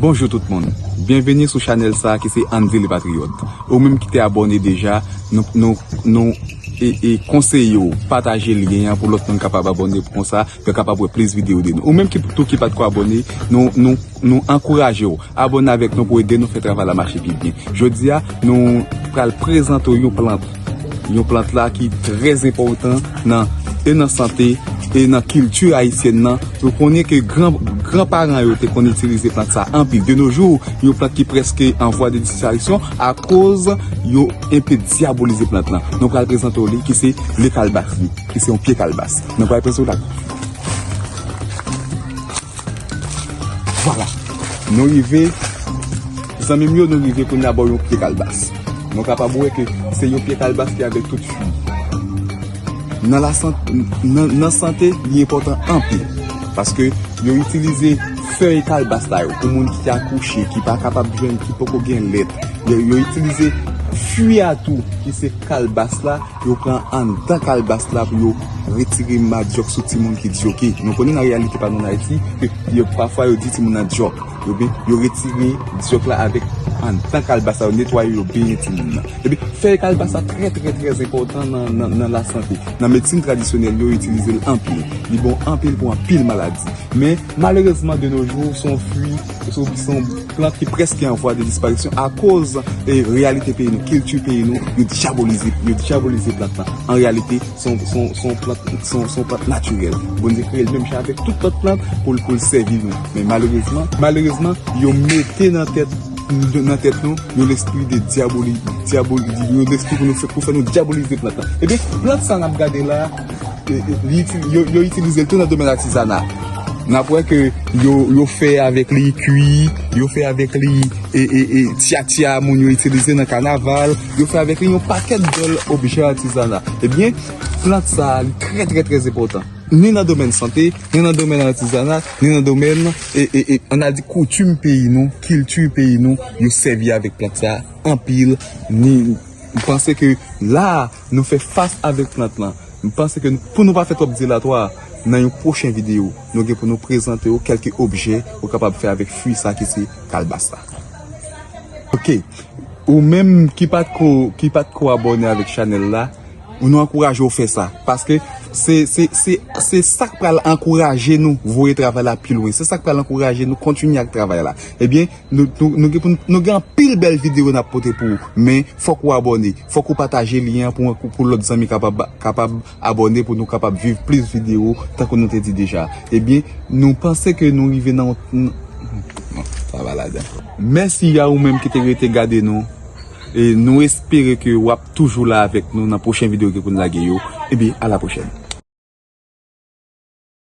Bonjou tout moun, byenveni sou chanèl sa ki se Andy le patriote. Ou menm ki te abòne deja, nou nou e konseye w pataje lyen an pou lòt moun kapab abòne pou konsa yo kapab wè plis videyo de nou. Ou menm ki tou ki patko abòne, nou nou nou ankouraje w abòne avèk nou pou ede nou fè travay la mache pi byen. Jodi a nou pral prezante w yon plant. Yon plant la ki trè zenpòtan nan e nan sante e nan kilti ayisyèn nan. Nou konnen ke gran gran paran yo te konn itilize plant sa anpil. De no jou, yon plant ki prèske an vwa de disparisyon akoz yo enpe dyabolize plant lan. Nou pral prezante w li ki se le kalbas li, ki se yon pye kalbas. Nou pral prezante w la. Vwala! Nou rive. Zanmim yo nou rive kounya bò yon pye kalbas nou kapab wè ke se yon pye kalbas ki avèk tout fwi nan la sante nan sante li enpòtan anpil paske yo itilize fèy kalbas sa yo pou moun ki akouche ki pa kapab jwenn ki poko gen lèt yo itilize fwi a tou ki se kalbas la yo pran anndan kalbas la pou yo retire madyòk sou timoun ki dyoke nou konnen nan reyalite pa nou nan ayiti ke pafwa yo di timoun nan dyòk. Yo retire dyòk la avèk anndan kalbas la, yo netwaye yo byen timoun nan. Epi fèy kalbas la trè trè trè enpòtan nan lasante. Nan medsin tradisyonèl yo itilize l anpil. Li bon anpil pou anpil maladi. Men malerezman de no jou se yon fwi, se yon plant ki prèske an vwa de disparisyon akoz reyalite peyi nou, kilti peyi nou, yo dyabolize plant lan. An reyalite. Se yon plant natirèl. Bondye kreye l menm jan avèk tout lòt plant pou l sèvi nou. Men malerezman, yo mete nan tèt nou yon lespri de dyabolizasyon pou fè nou dyabolize plant la. Ebyen, plant sa a n ap gade la, yo itilize l tou nan domèn atizana. N ap wè ke yo fè avèk li kwi, yo fè avèk li tyatya moun yo itilize nan kanaval. Yo fè avèk li yon pakèt bèl objè atizana. Ebyen, plant sa a li trè trè trè enpòtan. Ni nan domèn sante, ni nan domèn atizana, ni nan domèn e, e, e, ann al di koutim peyi nou, kilti peyi nou, yo sèvi avèk plant sa a anpil. Ni, m panse ke la a, nou fè fas avèk plant lan. M panse ke pou nou pa fè twòp dilatwa, nan yon pwochen videyo, nou gen pou nou prezante ou kèlke objè ou kapab fè avèk fui sa ki se kalbas la. Ok ou menm ki pat ko ki pat ko abòne avèk chanèl la nou ankouraje ou fè sa paske se se se se sak pral ankouraje nou voye travay la pi lwen se sak pral ankouraje nou kontinye ak travay la ebyen nou nou nou gen pou nou nou gen anpil bèl videyo nap pote pou ou men fòk ou abòne fòk ou pataje lyen an pou pou lòt zanmi kapab kapab Abòne pou nou kapab viv plis video tankou nou te di deja ebyen nou panse ke nou rive nan yon sa va ladan. Mèsi a ou menm ki te rete gade nou e nou espere ke wap toujou la avèk nou nan pwochen video ke poun lage yo ebyen a la pwochèn.